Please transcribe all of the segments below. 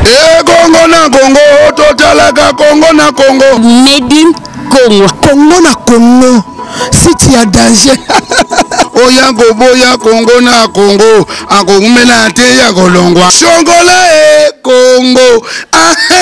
ekongo na kongo totalaka kongo na kongo medi kongo kongo na kongo siti ya danger oya koboya kongo na kongo akoumela te ya kolongwa songola e kongo ahe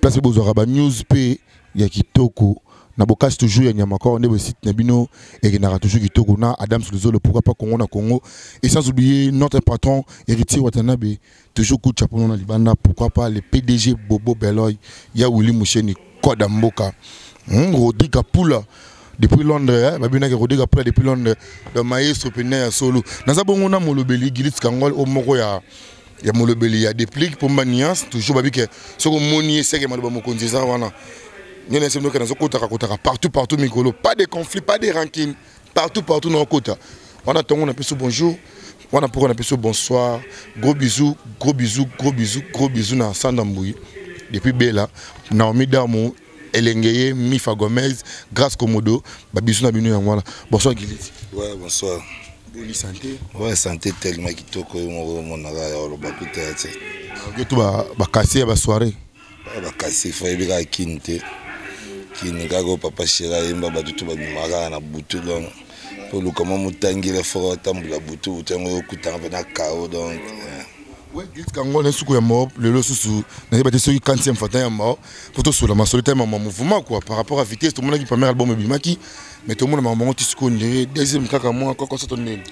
place bozwaka ba news pe ya kitoko na bokasi toujours ya nyama kor nde site na bino ekendaka toujours kitoko na adams luzolo pourquoi pas congo na congo et sans oublier notre patron héritier watanabe toujours coup de chapeau na libanda pourquoi pas le pdg bobo beloy ya willy musheni koda mboka hmm, rodrigue apula depuis londres eh, babinaki rodrigue apula depuis londres le maestro pena ya solo naza bongo na molobeli gilit kangol o moko ya ya molobeli ya deplique pomba nuance toujours babi ke soki omoni ye seke maloba mokonzi eza wana nini ese ndoke nazokotaka kotaka partout partout mikolo pas de conflit pas de rancune partout partout naokota wana ntongo na biso bonjour wana mpoko na biso bonsoir gros bisou gros bisou gros bisou gros bisou na sanda mbuyi depuis bela naomi damu Elengeye, Mifa Gomez, Grace Komodo, ba bisous na bino yango wana. Bonsoir Gilles. Ouais, bonsoir. Bonne santé. Ouais, santé tellement kitoko yo moko monaka ya oloba kuta ya tse. Nge to ba ba kasi ya ba soirée. Ba ba kasi fa yebika kin te. Kin kaka papa Shera yemba ba tutu ba bimaka na butu donc po lukama mutangile fo tambula butu butu yango okutanga pe na kao donc. Ouais, Gilles Kangole suku ya mo lelo susu na yeba te soki 40e fata ya mo mpo tosola masolo te mama mouvement quoi par rapport à vitesse tomonaki première album ebimaki mais tomona makambo yango ti sikoyo ndenge deuxième kaka mwa kaka soto ndeni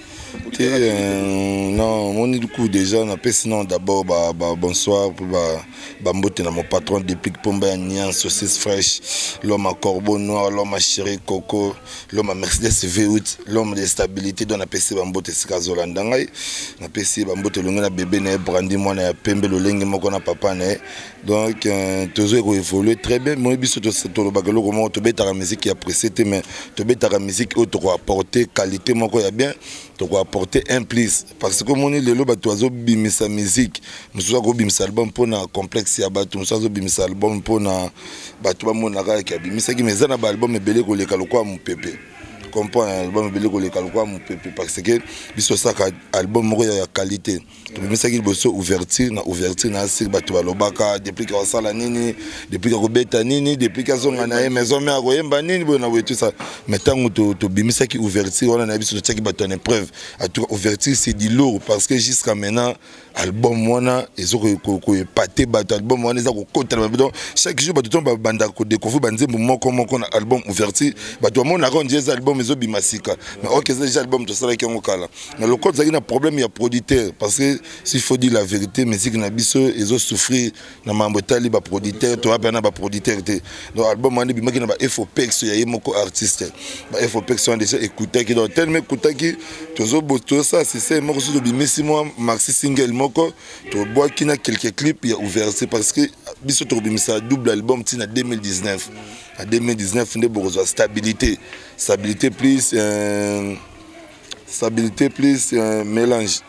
te euh, non omoni duku déjà napesi non d'abord ba, ba bonsoir mpo bambote ba na mon patron déplique pomba ya nian saucisse fraîche l'homme à corbeau noir l'homme à chéri coco l'homme à mercedes v8 l'homme de stabilité donc napesi bambote esika azolanda ngai napesi bambote elongi na bebe na ye brandi mwana ya pembe lolenge moko na papa na ye donc euh, tozo ko évoluer très bien moi biso tolobaka eloko moko tobetaka musique ya pressé te mais tobetaka musique oyo toko apporter qualité moko ya bien toko apporter un plus parce que omoni lelo bato azobimisa musique mosusu akobimisa album mpo na complexe ya bato mosusu azobimisa album mpo na bato bamonaka yaki abimisaki mais eza na baalbum ebele koleka lokola mopepe comprendre album ebele koleka lokola mopepe parce que biso osaka album moko ya qualité tobimisaki liboso ouverture na ouverture na asir bato balobaka depuis ka asala nini depuis ka kobeta nini depuis ka azonga na ye maison mare akoyemba nini boye na boye tusa mais ntango tobimisaki ouverture wana na biso totiaki bato en épreuve atuka ouverture c'est du lourd parce que jusqu'à maintenant album wana ezo koepate bato album wana eza kokota na donc chaque jour bato to babandaka kodécouvrir banzembo moko moko na album ouverture bato bamonaka ondie eza album ezobima sika mais oke eza déjà album tosalaki yango kala na lokola tozalaki na problème ya producteur parce que s'il faut dire la vérité musique na biso ezo souffrir na mambo etali ba producteur toya mpe na ba producteur te donc album wana ebimaki na ba efopex ya ye moko artiste ba efopex wana déjà ekutaki donc telema ekutaki tozosala système moko soki tobimisi mwa maxi single moko tobwaki na quelques clip ya ouverture parce que biso tokobimisa double album ntina 2019 na 2019 nde bokozwa stabilité stabilité plus euh, stabilité plus euh, mélange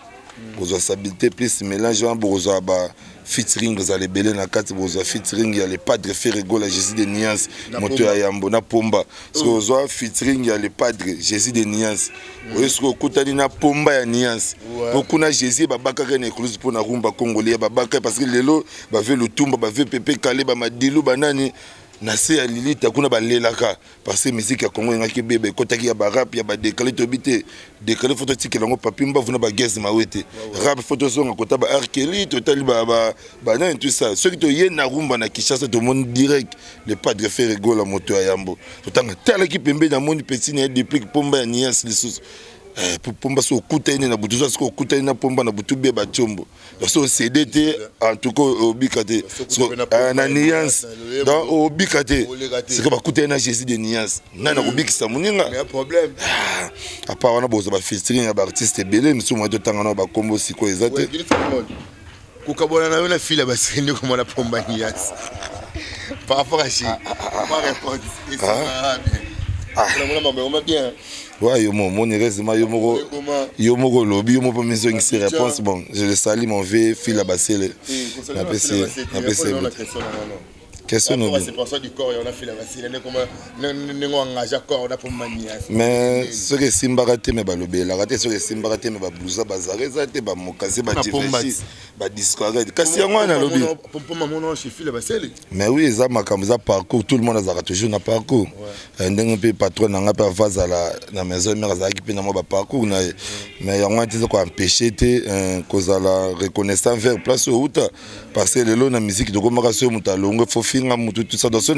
bokozwa stabilité plus mélange wana bokozwa ba featuring ozala ebele na kati bozwa featuring ya le padre ferregola jésus de niance moto ya yambo na pomba soki oh. ozwa featuring ya le padre jésus de niance mm. oyo soki okutani na pomba ya niance po kuna jésus babakaka na écluse mpo na rumba congolais babaka parce que lelo bave lutumba bave pepe kale bamadilu banani na se ya lilita kuna balelaka parce que musique ya congo engaki ebeba ekotaki ya barap ya badekale toyebi te dekale fo totikela yango papi mbavu na bagese mawe te rap fo tozonga kota ba arkeli totali banani tout ça soki toye na rumba na kinshasa tomoni direct le padre fere gola moto ya yambo totanga talaki pembeni namoni peti na ye deplique pomba ya nias lisusu eh, pomba soki okutani na butu oza soki okutani na pomba na butu beba tiombo parce on cede te en tout cas obika te euh, na nuance donc obika te sika bakutani na jésus de nuance nani akobikisa moninga ah, apa wana boza bafeaturing ya baartiste ebele misusu mwa totanga nao bakombo sikoyo eza te kokabwana na yo na fila basiki nde komona pomba nuance par rapport à chi ma réponse ah, ah, ah. bien Ouais, yo mon, mon heureusement yo moko yo moko lobi yo moko mizo ngisi réponse bon, je le salue mon vieux fil à basele. Na pesi na pesi. Question no. C'est pour ça du corps on a fait la basele ne comment ne ngo engage corps on a pour mania. Mais ce que simba raté mais balobi la raté ce que simba raté mais ba blusa ba zareza te ba mokase ba tifesi ba discourage. Kasi yango na lobi. Pour maman non, je fil à basele. mais oui eza makambo eza parcours tout le monde azalaka toujours na parcours ouais. Eh, ndenge mpe patron na ngai mpe ava azala na maison mare azalaki mpe na mwa baparcours na ye mais yango wana te eza koempeshe te eh, kozala reconnaissant vers place oyo outa parce que lelo na miziki tokomaka soki moto alongwe fo finga motu tusa donc soki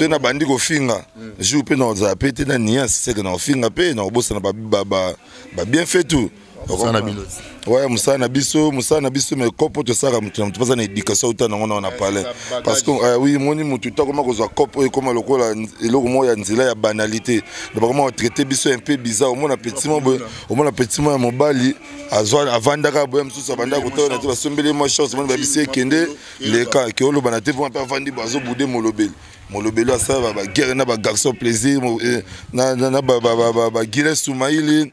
nabandi kofinga mm. jour mpe nakozala mpe te na niance seke na kofinga mpe na kobosana babien fait tout mosala na bino ouais mosala na biso mosala na biso mais kopo tosaka moto na moto mpoza na éducation auta nango nango na palais parce que euh, oui moni moto to akoma kozwa kopo oyo ekoma lokola eloko moko ya nzela ya banalité donc bakoma kotraite biso un peu bizarre omona petit mo boye omona petit mo ya mobali azwa avandaka boye mosusu abandaka kotala na te basombeli mwa chance omoni babisi ekende leka ke oloba na te mpo mpe avandi bo azobude molobeli molobeli asala baguerre na bagarçon plaisir eh, na baguile soumaili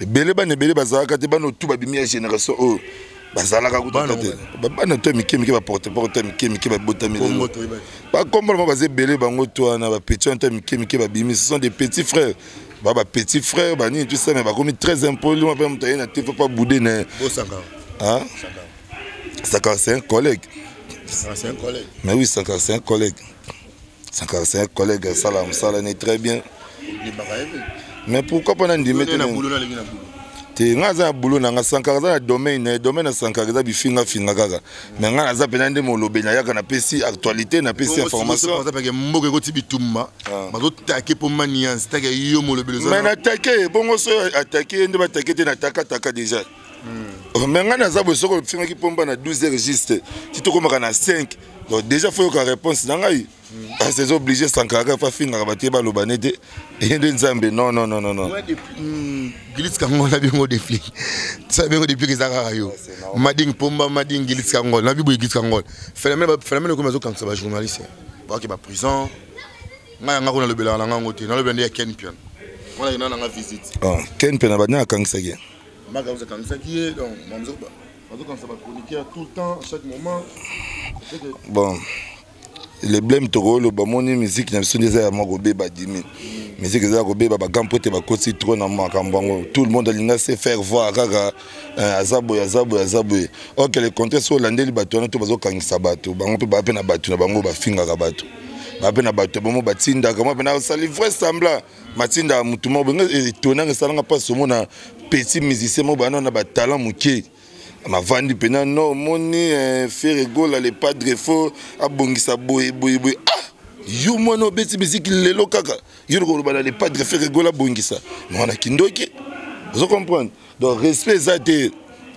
ebele bana ebele bazalaka te bana otu babimi ya génération oyo bazalaka kutata te bana to ya mike mike baporte porte ya mike mike babotami lelo bakombola bango baza ebele bango to wana bapetit wana to ya mike mike babimi ce sont des petits frères ba ba petit frère ba nini tout ça mais bakomi très impoli mwa mpe moto aye na te fo mpa boude na ye sakara c'est un collègue mais oui sakara c'est un collègue sankara c'est un collègue asala mosala ne très bien mais pourquoi pas nandimi te te ngai aza na boulot na ngai sankara aza na domaine na domaine ya sankara eza bifingafinga kaka mais ngai naza mpenza nde molobi nayaka napesi actualité napesi informationmboka mboka ekoti bitumba ah. bazotake mpo maniance take yo molobeli mais natake bongo so atake ye nde batake te natakataka déjà hmm. mais ngai naza boye soko ofingaki pomba na 12 heures juste ti tokomaka na 5 donc déjà fo yoka réponse na ngai ase eza oblige sankara fa afingaka bato ye baloba ne te eye nde nzambe non non non non hmm, gilis kango na bingo defli sa bingo depuis eza kaka yo mading pomba mading gilis kango na biboye gilis kango phénomène phénomène okomi azokangisa ba journaliste baki ba prison ngai yanga kuna lobelaka na ngango te nalobela nde ya ken pian wana yena nanga visite ah, ken pian abandi akangsaki maka oza kanisaki ye donc mamzo bazo kanisa ba chroniqueur tout le temps chaque moment bon le blème tokoloba moni miziki na biso nde eza ya mwa kobeba dimi miziki eza ya kobeba bagan mpo te bakosi tro na makambo yango tout le monde alinga se faire voir kaka eh, aza boye aza boye aza boye ok le contraire soki olandeli bato wana to bazokangisa bato bango mpe baa mpe na bato na bango bafingaka bato baa mpe na bato ya bango batindaka mwa mpe na osali vrai semblant matinda motu moko benga etonanga eh, esalanga mpasi omona petit musicien moko bana na batalent moke navandi mpena no omoni eh, fere gola le padre fo abongisa boye boye boye ah yo mwana obeti miziki lelo kaka yo lokoloba na le padre fere gola abongisa mwana kindoki ozo comprendre donc respect eza te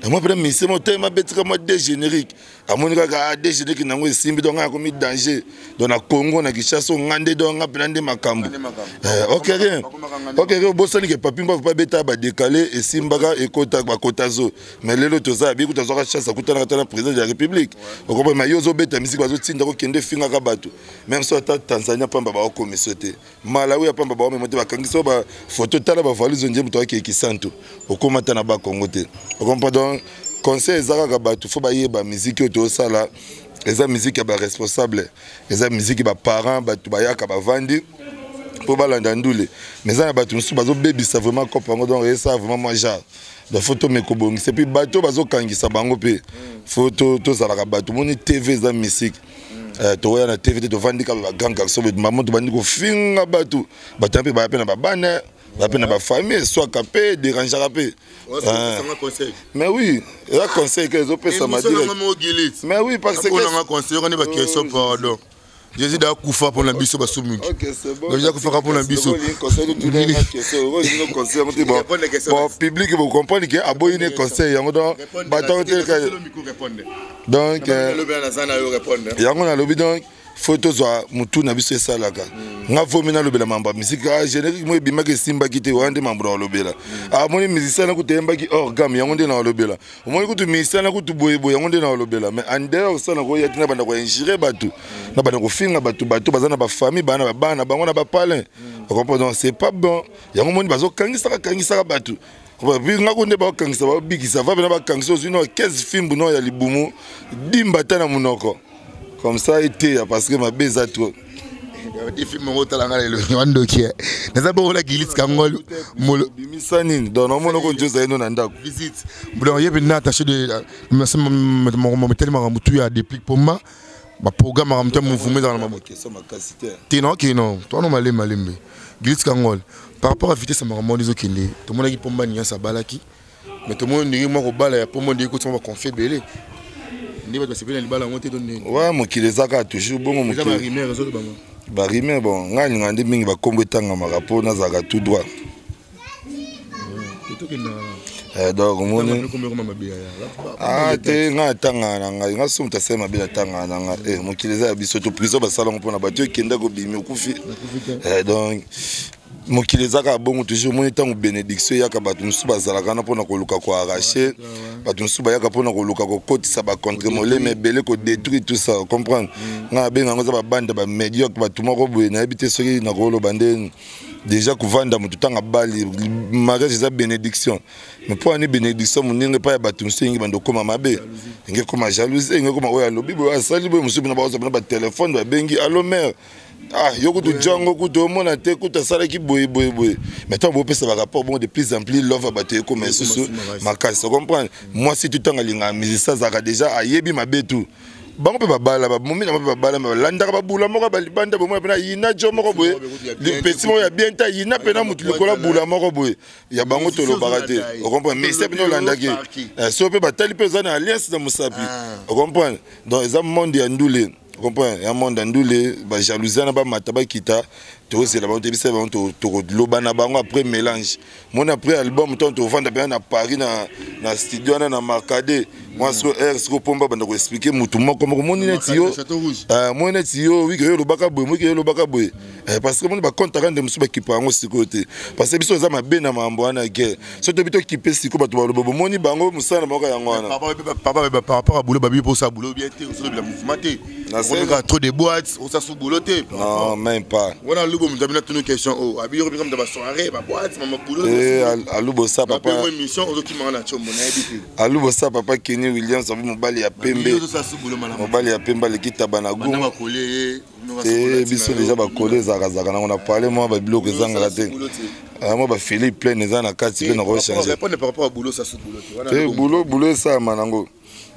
yango mpena musicien moko telema abetika mwa dégénérique amoni kaka ah, degeneki nango esimbi donc ngai komi danger donc na congo na kinshasa nga nde donc nga mpena nde makambo eh, ok rien ok rien obosani ke papi mbavu mpe abeta badekale esimbaka ekota bakota zo mais lelo toza abiku tazwaka chance akutanaka ata na président de la république okoba ma yo ozobeta misiki bazotinda kokende efingaka bato même so ata tanzania mpamba baokomiso te malawi ya pamba bawamema te bakangisa ba foto tala bavalise nje moto akei kisantu okoma ata na bakongo te okompa donc conseil eza kaka bato fo bayeba miziki oyo tosala eza miziki ya baresponsable eza miziki baparent bato bayaka bavandi mpo balanda ndule mais eza na bato mosusu bazobebisa vraiment cope yango donc esa vraiment mwa genre donc fo tomeka kobongisa epuis bato bazokangisa bango mpe fo tozalaka bato moni tv eza misiki Eh, toya na tv te tovandi kaka ba grand garçon maman tobandi kofinga bato bato mpe baya mpe na babana baya mpe na bafamille eswaka mpe derangeaka mpe eh. mais oui eza conseil ke ezopesama mais oui parce que jésus da akufa mpo na biso basumuki jésus akufaka mpo na biso public bokomprendre ke aboyi ne conseil yango don bato donc euh, yango nalobi donc fo tozwa motu na biso esalaka mm. nga fomi nalobela mambo ya miziki ah, générique moko ebimaki esimbaki te wana nde mambo na kolobela mm. ah, amoni musicien nakutu eyembaki hors gamme yango nde na kolobela omoni kutu musicien nakutu boyeboye yango nde na kolobela mais en dehors osa na koya ti na banda koingire bato mm. na banda kofinga bato bato baza na bafamille bana babana bango na bapalin okompo donc c'est pas bon yango omoni bazokangisaka kangisaka bato ngako nde bakangisa babikisa va pena bakangisa ozwi no 15 fimbu no ya libumu dimba ata na monoko comme ça eteya parce que mabe eza trop defilme yango otala ngai lelo wandoki naza bongola gilisi kangol bimisa nini donc namona oko nje ozali no na ndako visite donc ye mpenza attaché de motali makambo tu ya deplique mpo ma baprogramaka moto ya mouvuma ezala na te naokei no towana malembe malembe gilits kangol par rapport ya vitesse ya makambo wana ezokende tomonaki pomba nias abalaki mais tomoni ndenge mwa kobala ya pomba ndenge kotisama baconflit ebele nde bato basepeli na libala yango te to ndenge wa mokili eza kaka toujours bongo mokili barime bon ngai alingaa nde mingi bakombo etangamaka mpo nazalaka tout droit Eh, donc omoni ah, te ngai atangana na ngai ngai so moto asali mabe natangana na ngai eh, mokili eza ya biso to prison basalango mpona bato ekenda kobimi okufi eh, donc mokili ezaka bongo toujours omoni ntango bénédiction eyaka bato mosusu bazalaka wana mpona koluka koarrache bato mosusu bayaka mpona koluka kokotisa bacontre molema ebele kodétruire tout ça comprendre mm. ngai nabenga yango eza babanda bamédiocre bato moko boye nayebi te soki nakoloba nde deja kovanda moto ntango abali mariage eza bénédiction mais mpo ani bénédiction moninga epai ya bato mosusu enge banda okóma mabe enge ekóma jalousie enge ekóma oyo alobi boye asali boye mosusu bino baoza bino batelefone babengi alo mare ah yo kutu jango kutu omona te kutu asalaki boye boye boye mais ntango bopesa barapport bongo de plus en plus love ya bato ekóma lisusu makasi ocomprendre mwasi tutanga alingaka musicien azalaka déjà ayebi mabe tout bango mpe babala babomi nango mpe babala balandaka babula moko balibanda bomona mpena yina jo moko boye lipesi moko ya bien te yina mpena motu likolo abula moko boye ya bango tolobaka te ocomprendre ministère mpena olandaki eh, so mpe batali mpe oza na alliance na mosapi ah. ocomprendre donc eza monde ya ndule comprendre ya monde ya ndule bajalousia na bamata bakita tozela bango tebisa bango tokoloba na bango après mélange moni après album ntango tovanda mpenza na paris na, na studio wana na marcade mwa siko aire siko mpomba banda koexplike motu moko moko moni neti yo eh, moni neti yo wiki yo olobaka boye moki yo olobaka boye eh, parce que moni bacontaka nde mosusu bakipa yango sikoyo te parce que biso eza mabe na mambo wana guerre so tobi tokipe siko bato baloba bomoni bango mosala na bango yango wana papa babi baparaport ya boulot babi mposa boulot bien te osolobela mouvement te okoleka trop de boîte osa sous boulot te non même pas wana alubo moto abina tunu question oyo oh, abiyoko bika moto basoirée baboîte mama boulot eh, alubo sa papa émission ozokimaka na combo nayebi te alubo sa papa kenny williams abi mobali ya pembe mobali ya pembe aleki taba na gu te biso deja bakole ezakazaka nango na parle mwa babiloko ezangaka te yango bafili pleine eza na kati mpe nakochange te bulo esalama nango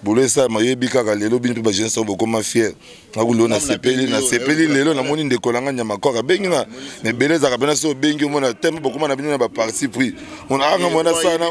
bolo esalama oyebi kaka lelo bino mpe bajeunesse oyo bokoma fiere nakuli oyo nasepeli nasepeli lelo namoni ndeko na ngai nyamakwaka abengi nga na ebele ezalaka mpena so obengi omona te mpe bokoma na bino na baparti pris onaanga mwana sana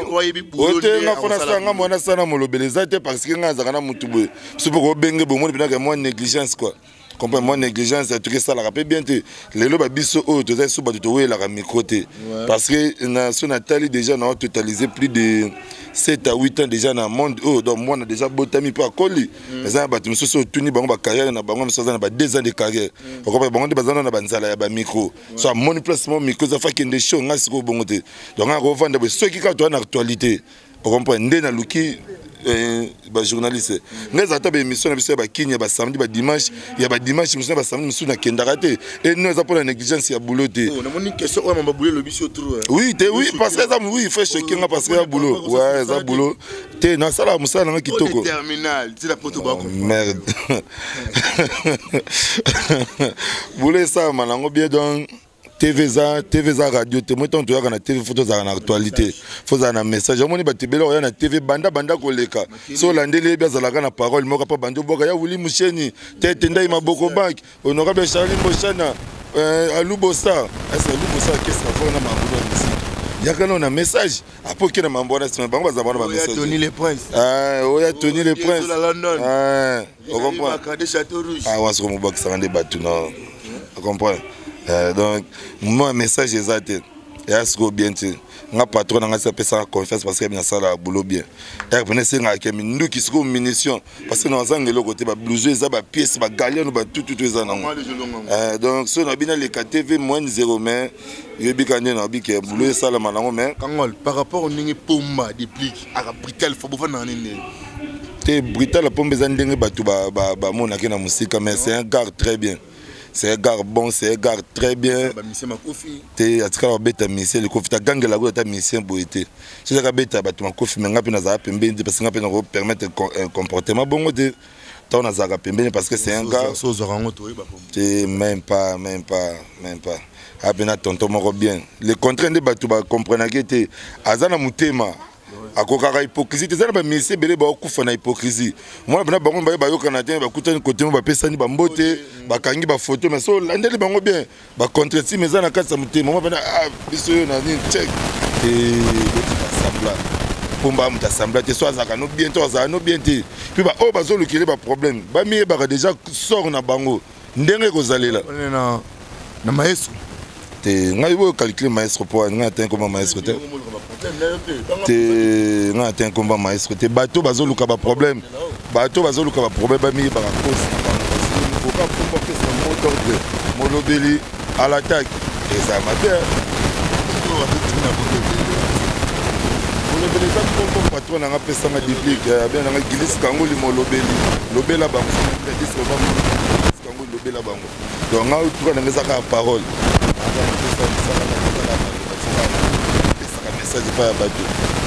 otenga mpo nasala nga mwana sana molobeli eza te parce ke ngai azalaka na motu boye so mpe kobenge bomoni mpenaka mwa négligence quoi comprendre moi négligence atuki esalaka mpe bien te lelo babiso oyo toza lisusu bato towelaka micro te parce que na so natali déjà na totaliser plus de 7 à 8 ans déjà na monde oyo donc mwana déjà botami mpe akoli mm. eza na bato mosusu oyo tuni bango bacarrière na bango mosusu aza na ba 2 ans de carrière mm. okopa bango nde baza na banzala ya bamicro so amoni place mo micro eza fakende show ngai sikoyo bongo te donc akovanda boye soki kaka toza na actualité okomprendre nde naluki eh, bajournaliste ngai ezala ta baémission na biso ya bakini ya basamedi badimanche ya badimanche mosusu na basamedi mosusu nakendaka te eno eza mpona négligence ya boulot te oh, eh. oui te oui parce que eza oui frais choke nga parce que ya boulot ouais eza boulot te nasalaka mosala nanga kitoko oh, merde boulot esalama nango bien donc tv eza tv eza radio te moi ntango toyaka na tv fo tozalaka na actualité fo ozala na message omoni bato ebele oya na tv banda banda koleka so olandeli yebi azalaka na parole moko mpo bandi obwaka ya wili musheni tete ndai maboko bank honorable charli moshana eh, alubosa ese alubosa akesa fo na mangulu ya misiki yaka nao na message apo oke na mambo wana nsima bango bazala wana bamessage oya tony le prince ah, awas komobakisaka nde bato na ocomprendre euh, donc moi message eza te eya sikoyo bien te nga patron na ngai si apesaka confiance parce que nasalaka boulot bien ere pene esengaka ke minduki sikoyo munition parce que nazanga eloko te bablouso eza bapiece bagaliano batututu eza nango euh, donc soki nabi naleka tv moine zero mais yoyebika nde nabi ke boulot esalama nango mais par rapport ndenge pomba deplique aka brital fo bovanda na nini ndenge te brital pombe eza ndenge bato bamonaki na mosika mais c'est un gare très bien c'est un gare bon c'est un gare très bien te atikala babeta misie likofi tagangela kuta ata misie boye te soki akabeta bato makofi me ngai mpe nazala pembeni te parce ngai mpe nakopermettre euh, comportement bongo te ntango nazalaka pembeni parce que c'est un gars te même pas même pas même pas ape na tonton moko bien le contraire nde bato bacomprenake te aza na motema akokaka hypocrisie te eza na bamisie ebele baokufa na hypocrisie mwana mpena bango baye bayokana te bakutani kote mo bapesani bambote bakangi bafoto mais so olandeli bango bien ba contretime eza na kati ya motema mwa pena ah, biso yo na nini check asambla pomba moto asambla te so azalaka no bien to azalaka no bien te mpe baoyo bazolukele baproblème bamiyebaka déjà sort na bango ndenge ekozalela na maestro te ngai oyo calcule maestro mpo ngai atani koma maestro te te nga na te nkomba maestro te bato bazoluka baproblème bato bazoluka baproblème bamiyebaka kosi oka komba pesa moto te molobeli alataki eza mabe oyo wabetimi na molobeli molobeli eza kombo patron nanga pesanga diplike eh, abia nanga gilisi kango limolobeli lobela bango gilisi kango lobela bango donc nga tuka nanga eza kaka parole pesaka message epai ya bato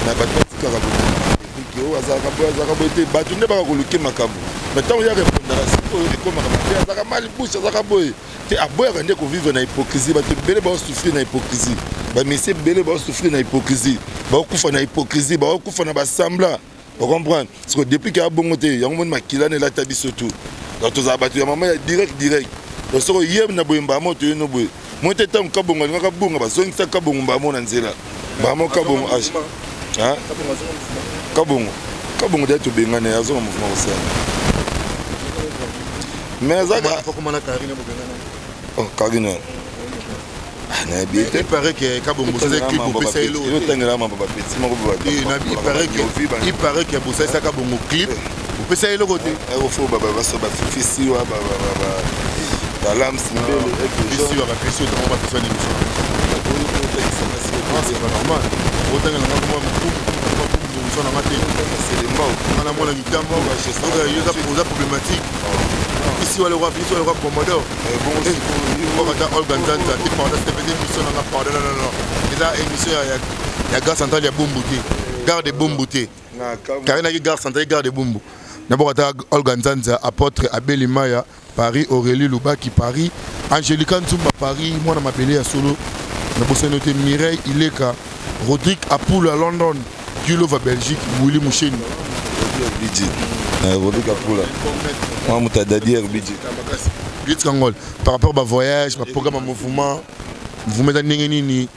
na bato batikaka boke oyo azalaka boye azalaka boye te bato nde baka koluke makambo me ntango ya repondaka sikoyo ekomaka mabe azalaka mali bushe azalaka boye te aboyaka nde kovivre na hypocrisie bato ebele baosouffrir na hypocrisie bamisie ebele baosouffrir na hypocrisie baokufa na hypocrisie baokufa na basembla ocomprendre siko depuis ke abongo te yango moni makila na elata biso tu donc tozala bato ya mama ya direct direct donc soko ye na boye mbamo toye no boye moi te ntango kabongo alingaka abonga bazongisa kabongo mbamo na nzela mbamo kabongo age kabongo kabongo dai tobengani azonga mouvement kosala mais azaka karine paraît que kabongo osali clip opesa ye lobi il paraît que bosalisa kabongo clip opesa ye eloko te ofo babaso bafifisiwa balamsi mbelefisiwa bapesi otango bapesa nini normal otangela nga kuma mokumu na nga te nga namona mitambo oza problématique isiwa lokwa commodore kaka ta olga nzanza te pardon te pete émission nanga pardon non non non eza émission ya gare centrale ya bumbu te gare de bumbu te karinaki gare centrale gare de bumbu naboka ta olga nzanza apôtre abeli maya paris aurélie lubaki paris angelica nzumba paris mwana mabele ya solo nabosani yo te mireille ileka rodrigue apula london Gulova Belgique Willy Musheni Bidji eh, Bobby Kapula Mwa muta Dadier Bidji Blitz Kangol par rapport ba voyage ba programme ya mouvement mouvement eza ndenge nini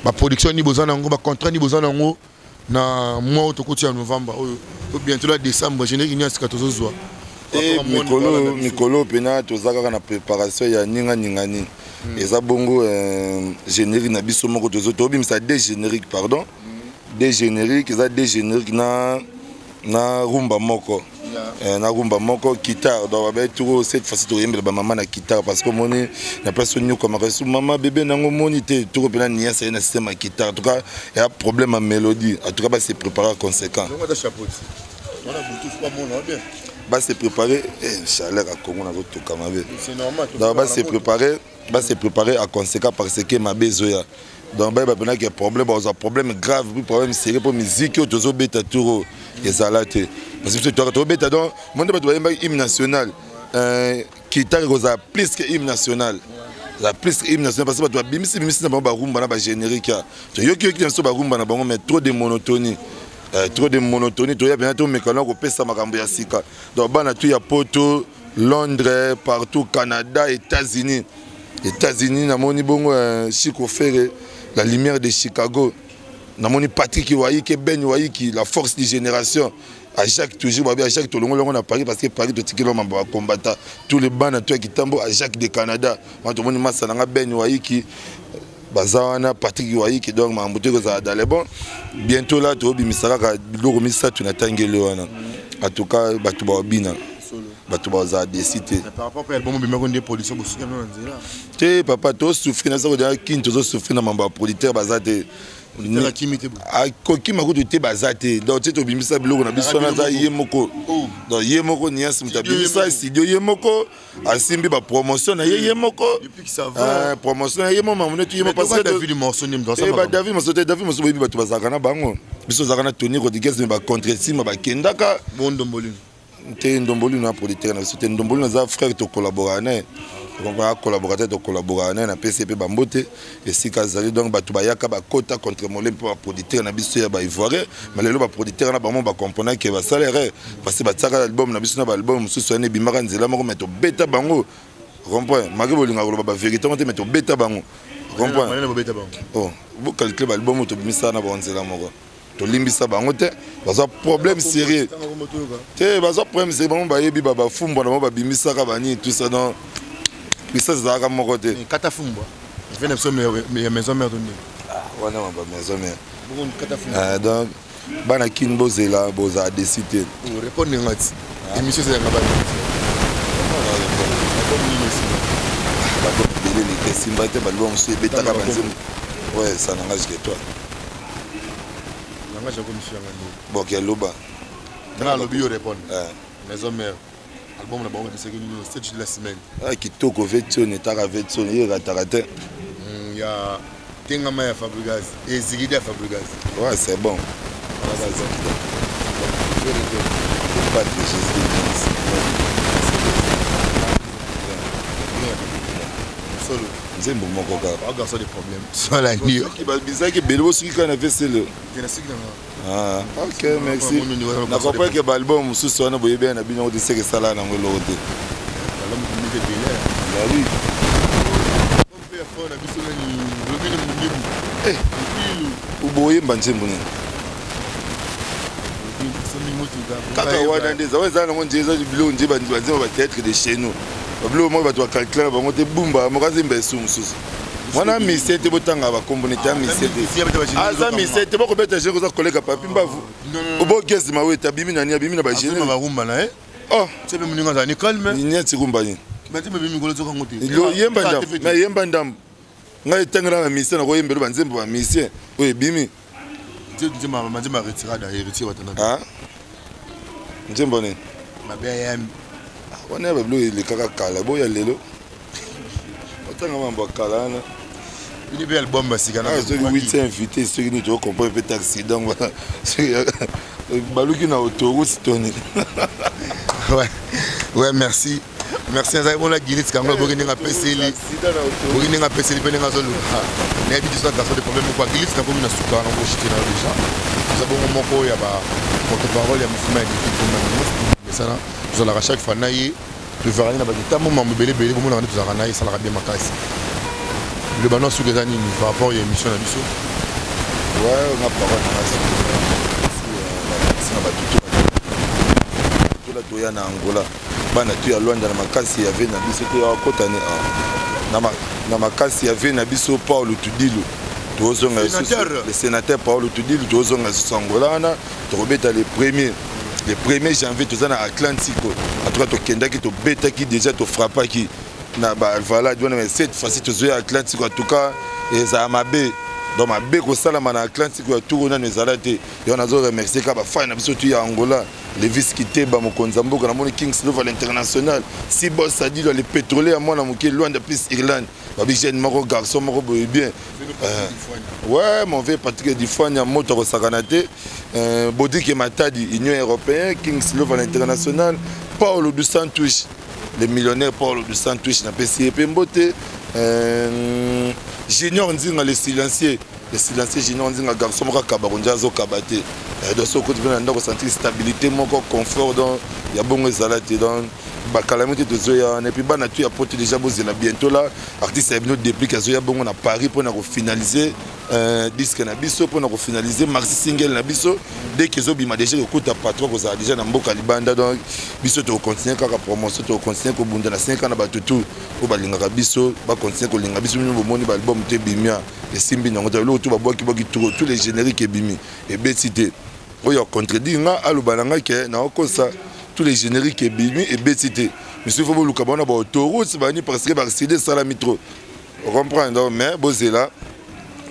ba production nini boza na yango ba contrat nini boza na yango na mwa oyo tokoti ya novembre oyo to bientôt la décembre générique nini asika tozozwa eh, mikolo mikolo mpena toza kaka na préparation ya ninganinga nini hmm. eza bongo euh, générique na biso moko tozobimisa deux générique pardon de générique eza de générique na na rumba moko eh, na rumba moko guitare donc babai toko cette fois-ci tokoyembela bamama na guitare parce que omoni na place onyokwamaka esu mama bebe nango omoni te toko mpena niase ye na système ya guitare en tout cas ya problème ya mélodie en tout cas base préparer conséquent base préparer eh, chaleur ya congo nazotoka mabe donc base préparer ba se préparer à conséquent par ce que mabe ezoya donc bayeba mpena ke problème bakozwa problème grave puis problème sérieux mpo miziki oyo tozobeta turo ezala te parce que biso tobeta donc mo nde bato bayembaki hymne national euh, kitaka ekozala plus que hymne national la plus hymne national parce que bato babimisi bimisi na bango barumba na bagénérique ya toyokiyoki na biso barumba na bango mais trop de monotonie euh, trop de monotonie toya mpena tomekana kopesa makambo ya sika donc bana tu ya poto Londres partout Canada États-Unis États-Unis namoni bongo eh, Chico Ferre la lumière de Chicago namoni Patrick Waiki Ben Waiki la force du génération à Jacques toujours babi à Jacques tolongo longo na Paris parce que Paris to tikelo mambo combattant tous les bana toi qui tambo à Jacques de Canada moi tomoni massa nanga Ben Waiki baza wana patrick iwaiki donc makambo te ekozala dale bon bientôt la tobimisa kaka biloko misato na tangeli wana atuka bato babina bato bazala desi te te papa tosouffri na sako deja kini tozosouffri na mambo ya producteur baza te akokima kutu te baza te donc ti tobimisa biloko na biso wana aza ye moko oh. donc ye moko niasi moto abimisa studio ye moko asimbi ba promotion na ye ye moko eh, promotion na ye moko mamune tu ye moko parce que David morceau ni mdosa eh, ba David morceau te David morceau boyebi bato bazalaka na bango biso ozalaka na Tony Rodriguez mais ba contre sima bakendaka bondo mbolino te ndomboli na politique na biso te ndomboli naza frère tokollaboraka naye akollaboraka te tokollaboraka naye napesi ye mpe bambote esika azali donc bato bayaka bakota contre mole mpe baproducteur na biso ya baivoirien ma lelo baproducteur na bango bacomprena ke basala erreur parce batiaka album na biso na baalbum mosusu wana ebimaka nzela moko me tobeta bango comprend maki bolinga koloba bavérité ngo te me tobeta bango comprend bocalcule oh, baalbum tobimisaka na bango nzela moko tolimbisa bango te baza problème sérieux te baza problème sérieux bango bayebi bafumbwa na bango babimisaka banini tout ça donc puissance ezalaka moko te kata fumbwa efe na biso ya maison mère tondini ah, wana ma bamaison mère ah, donc bana kin bozela bozala desi te oh, repondre nga ti ah. émission ezalaka bana bato ebele lite esimba te baliba mosusu ebetaka banzembo oyo esanangage ke toi nanga jago misu yanga nde boki aluba tala alobi yo répondre eh. maison mère album na bango kisaki nini stage de la semaine ah kitoko vetson etaka vetson ye rataka te hmm, ya tengama ya fabrigas ezikidi ya fabrigas ouais c'est bon nzembo moko kaka Sola ndio. Bizaki bele bosuki kana na vesele. Tena siki na. Ah, OK, merci. Na comprends que album mususu wana boyebi na bino kuti seke sala na ngolo kuti. Album kumite bele. Bah oui. Mon père fort na biso ni lobini mundibu. Eh, ilu. Uboye mbanjembo nini? kaka wana nde eza wana eza nango nje eza biloko nje banzima bateatre de chez nous babiloko moko bato bakalkla na bango te bumba mokazemba esu mosusu wana mise te botanga bakombo nete ya mise te aza mise te bokobeta jeu koza koleka papi mbavu obogezi mawete abimi nani abimi na bagene oh. nieti rumba nini yemba ndambo ngai etangela na mise nakoyembela banzembo ya mise oyo ebimi nzembo nini wana ya babilo elekaka kala boya lelo otanga mambo ya kala wana bini mpe album basika ah, soki witi invité soki nini tokokomprene mpe taxi donc baluki na autoroute toni ouais, ouais merci merci nazali mona guinit kango boki ndenge apeseli boki ndenge apeseli mpe ndenge azoluka nayebi biso na garçon de problème moko aguinit nakomi na suka na boshite na déjà oza bongo moko ya ba porte parole ya mofuma ya dikipomesana tozalaka chaque fois na ye tozalaka na bato ntango mambo ebele ebele bomonaka nde tozalaka na ye esalaka bien makasi liloba no suka eza nini par rapport ya émission na biso ouais nga parole na kasi na bato tola toya na angola bana tu ya Luanda na makasi ya vie na biso to ya kota ne ah. na makasi ya vie na biso Paulo Tudilu tozonga le sénateur Paulo Tudilu tozonga sous Angola wana tokobeta le premier le premier janvier toza na Atlantique en tout cas tokendaki tobetaki déjà tofrappaki na ba Alvalade wana mais cette fois-ci tozoya Atlantique en tout cas ezala mabe donc mabe kosalama na atlantique ya tour nano ezala te yango nazo remercie kaka bafani na biso tu ya angola Levis Kiteba mokonzi ya mboka namoni King Silver l'international si boss Sadilo le pétrolier ya mwana moke Luanda plus Irlande babi jeune moko garçon moko boye bien euh, ouais mon vieux Patrick Difanya moto akosakana te euh, Bodike Matadi Union européenne King Silver l'international Paulo dos Santos le millionnaire Paulo dos Santos napesi ye mpe mbote euh, Junior Nzinga le silencieux le silencieux junior nzinga garçon moko akaba konja azokaba te eh, donc soki okoti mpe na ndako sentir stabilité moko confort donc ya bongo ezala te donc bakalami te tozoya wana epuis bana tu ya poto déjà bozela bientôt la artiste ya bino déplique azoya bongo na paris mpo na kofinalize euh, disque na biso mpo na kofinalize maxi single na biso deke ezobima déjà kokuta patron kozala déjà na mboka libanda donc biso tokocontinue kaka promotion tokocontinue kobunda na 5 ans na bato tu oyo balingaka biso bacontinue kolinga biso bino bomoni baalbum te bimia esimbi nango te eloko to babwaki bwaki toko tous les génériques ebimi ebeti te oyo acontredire nga aloba na ngai ke naokosa tous les génériques ebimi ebeti te monsieur fo boluka baona baautourute bani parce que barside esalami trop ocomprendre mais bozela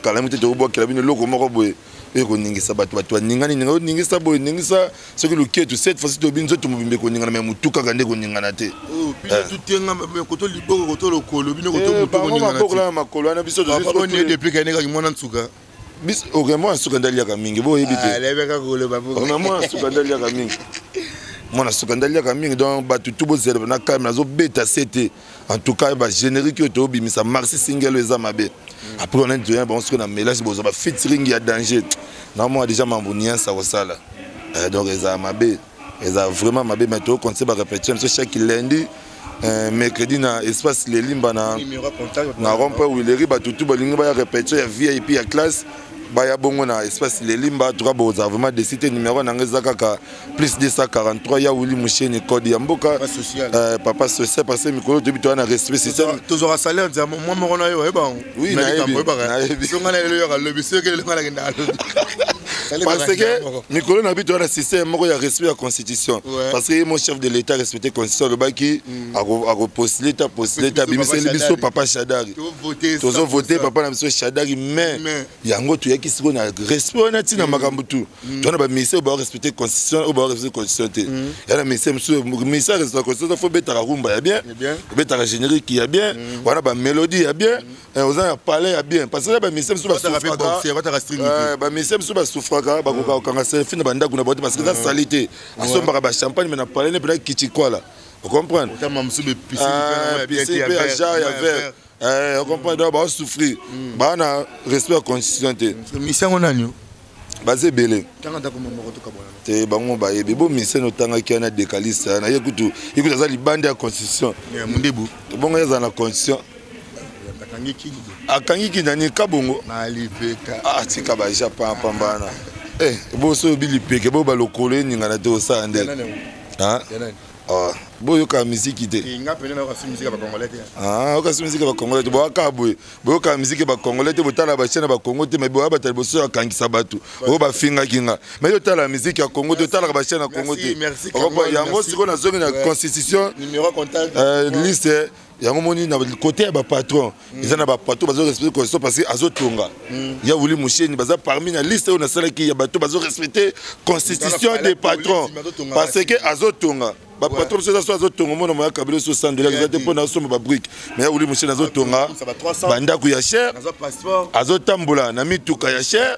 kala mite tokobwakela bino eloko moko boye oyo koningisa bato bato baningani ninga oningisa boye ningisa soki luketu cette fois-ci toyebi nzoto mobimba ekoningana me motu kaka nde ekoningana te oh, eh. babokola eh, na makolo wana biso depuis kanekaki mwana nsuka oke mwana nsuka nde aliaka mingi boyebi tena mwana nsuka nde aliaka mingi mwana nsuka nde aliaka mingi donc bato tu bozela na kalme nazobeta se te en tout cas ba générique oyo tobimisa marsi singelo eza mabe après on a dit bon ce que na mélange bozo ba featuring ya danger na moi déjà mambo niansa kosala euh, donc eza mabe eza vraiment mabe mais to conseil ba répétition ce chaque lundi euh, mercredi na espace lelimba na na rompe wileri bato tu balingi baya répétition ya vip ya classe baya bongo na espace lelimba tuka boza vraiment desite numero na ngai eza kaka plus 243 ya wili musheni code ya mboka papa social euh, papa social parce que mikolo toyebi toya na respect système tozwaka salaire nzambe mwa moko na yo oyeba yango oui nayebi so ngai na lelo yoka lobi soki elelo ngai nakenda alobi parce que mikolo na bito wana système moko ya respect ya constitution parce que ye mo chef de l'état respecte constitution alobaki mm. akopostule ta postule ta abimiseli biso papa shadari tozovote papa na biso shadari mais yango toyaki sikoyo na respect wana ntina mm. makambo tout Mm. tona baministère oyo barespecte constitution oyo barespecte constitution te mm. ya na ministère mosusu ministère respecte constitution fo obetaka rumba ya bien obetaka générique ya bien mm. wana bamélodie ya bien eh, oza ya palais ya bien parce que baministère mosusu baministère mosusu basufraka bakoka kokanga selfi na bandako na bango te parce que eza sali te asombaka bachampagne me na palais ne mpena kitikwala ocomprendre piscine ya vert eh, ocomprendre mm. baosouffrir mm. baa na respect ya constitution te misi yango nani baza ebele te bango bayebi bo misene otangaki wana decaliste wana ye kutu ye kutu aza libanda ya constitution mondebu bongo ye azala na constitution akangi kindani kabongo atika ah, baja pampambana eh, boso obi lipeke bo balokolo eningana te osala nde Ah, boyoka miziki te eh, ah, okasi miziki ya bacongolais te boyaka boye boyoka miziki ya bacongolais te botala bachaine ya bacongo te mai boya bata liboso ya kangisa bato oyo bafingaki nga mai totala miziki ya congo te otalaka bachaine ya congo te yango sikoyo nazongi na constitution eh, liste yango moni na kote ya bapatron mm. eza na bapatron bazo respecte constitution parce que azotonga mm. ya wili musheni baza parmi na liste oyo nasalaki ya bato bazo respecte constitution des patrons parce que azotonga bapatron mosusu eza so azotonga omona moya kabila oso sandola eza te mpo na osomba babrike me ya wili musheni azotonga bandako ya chere azotambola na mituka ya chere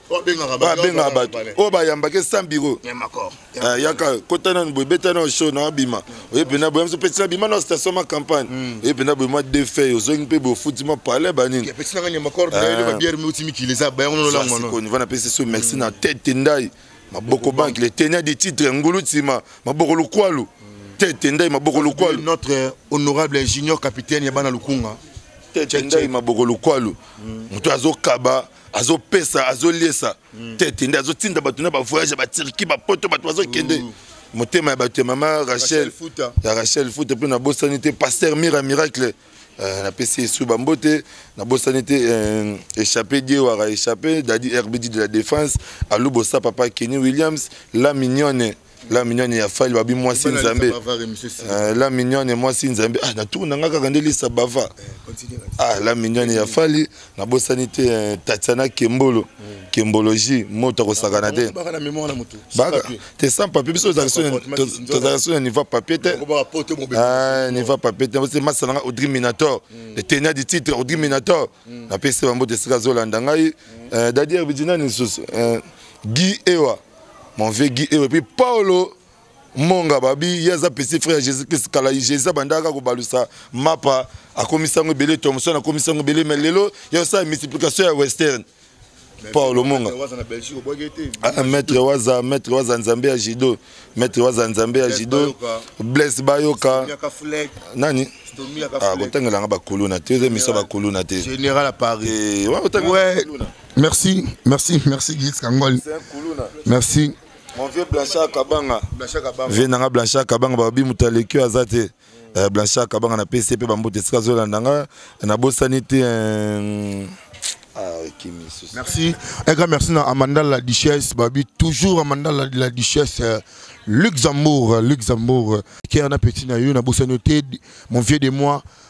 babengaka bato oyo bayambaki sans biro ah, yaka kota nanu boye beta nao show na abima oye mpena boye biso pesi nabima na station ma campagne hmm. oye mpena boye mwa de feuille ozongi mpe boye ofuti mwa palais banini va napesi so merci na tete ndai maboko banki le tenia de titre ngulu nsima maboko lokwalu hmm. tete ndai maboko lokwalu notre honorable ingénieur capitaine ya bana lukunga tete ndai maboko lokwalu hmm. moto azokaba azopesa azoliesa mm. tete nde azotinda bato na bavoyage ya batirki bapoto bato bazokende mm. motema ya bato ya mama rachel ya rachel futa mpe nabosani te paster mira miracle euh, napesi esu bambo te nabosani te euh, échappé diewara échappé dadi rbd de la défense alubosa papa kenny williams la mignonne la mignonne ya fali babi mwasi nzambe euh, la mignonne mwasi nzambe ah natour na nga kaka nde lisa bava eh, ah la mignonne ya fali nabosani te euh, tatiana kembolo hmm. kembologie moto akosakana te baka te sans papier biso tozalaka so na niveau papier te ah, niveau papier te ose masa nanga audri minator hmm. etenia du titre audri minator hmm. napesi bango te esika azolanda ngai euh, dadi erbidinani lisusu gi ewa Mon vieux Guy Ewe, puis Paolo Monga Babi, ye aza petit frère ya Jésus Christ kala Jésus abandaka kobalusa mapa akomisi yango ebele Thomson akomisi yango ebele mais lelo ya osala multiplication ya western Paolo Monga ah, maître waza maître waza nzambe ya judo maître waza nzambe ya judo Blaise Bayoka nani ah, kotangela nga bakuluna te eza misa bakuluna te général à Paris eh, ouais, Merci, merci, merci Guy Kangol. Merci. Mon vieux Blanchard Kabanga. Blanchard Kabanga. Vieux Nanga Blanchard Kabanga, Babi Moutalekio Azate. Euh, Blanchard Kabanga na PCP Bambote Sika Zola Nanga. Na Bossani te. Euh... Ah, merci. Un grand merci à Amanda la Duchesse, Babi. Toujours Amanda la, la Duchesse. Euh, Luxembourg, Luxembourg. Qui a un appétit, mon vieux de moi.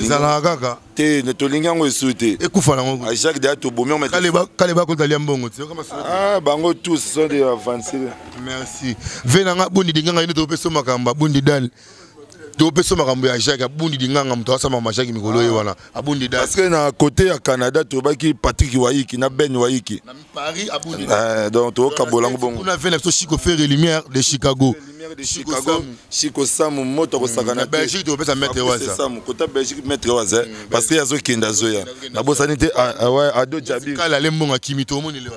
ezalaka kaka te tolingi yango esu te ekufa nango ah, jacques deya tobomi kale bakotalia mbongo te ah, bango tous sont de avancile merci ve nanga bundi dinganga ino topesa makambo abundi dale topesa makambo ya jacques abundi dinganga moto asama ma jacques mikolo ye ah. wana abundi dale parce que na côté ya canada tobaki patrick waiki na ben waiki na Paris à Boudé. Euh, donc to kabola ngo bongo. On a fait la Chico Ferre et Lumière de Chicago. De Chicago, Chico Samu moto ko sakana. Na Belgique to pesa mettre waza. Samu kota Belgique mettre waza mm, parce que yazo kenda zoya. Na bosani te ah, ah ouais ado jabi. Kala le mbonga kimi to moni le.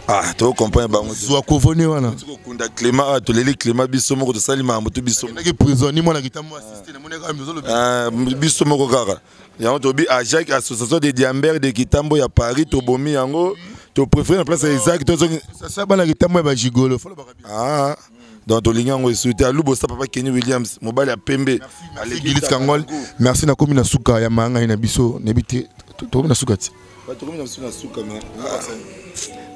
Ah to comprendre bango. Zwa ko vone wana. Ko kunda Clément ah, to leli Clément biso moko to sali mambo to biso. Na ki prison ni mona kitambo assisté na mona ka mizo lobi. Ah biso moko kaka. yango tobi ajak association de diamber de kitambo ya paris tobomi yango topréféré na place ya isaac tozongisasa bana kitambo ya bajigolo ah, donc tolingi yango esu te aluba osa papa kenny williams mobali ya pembe gilis kangol merci nakomi na suka ya mayangai na biso nayebi te tokomi na suka ti tokomi na biso na suka ah.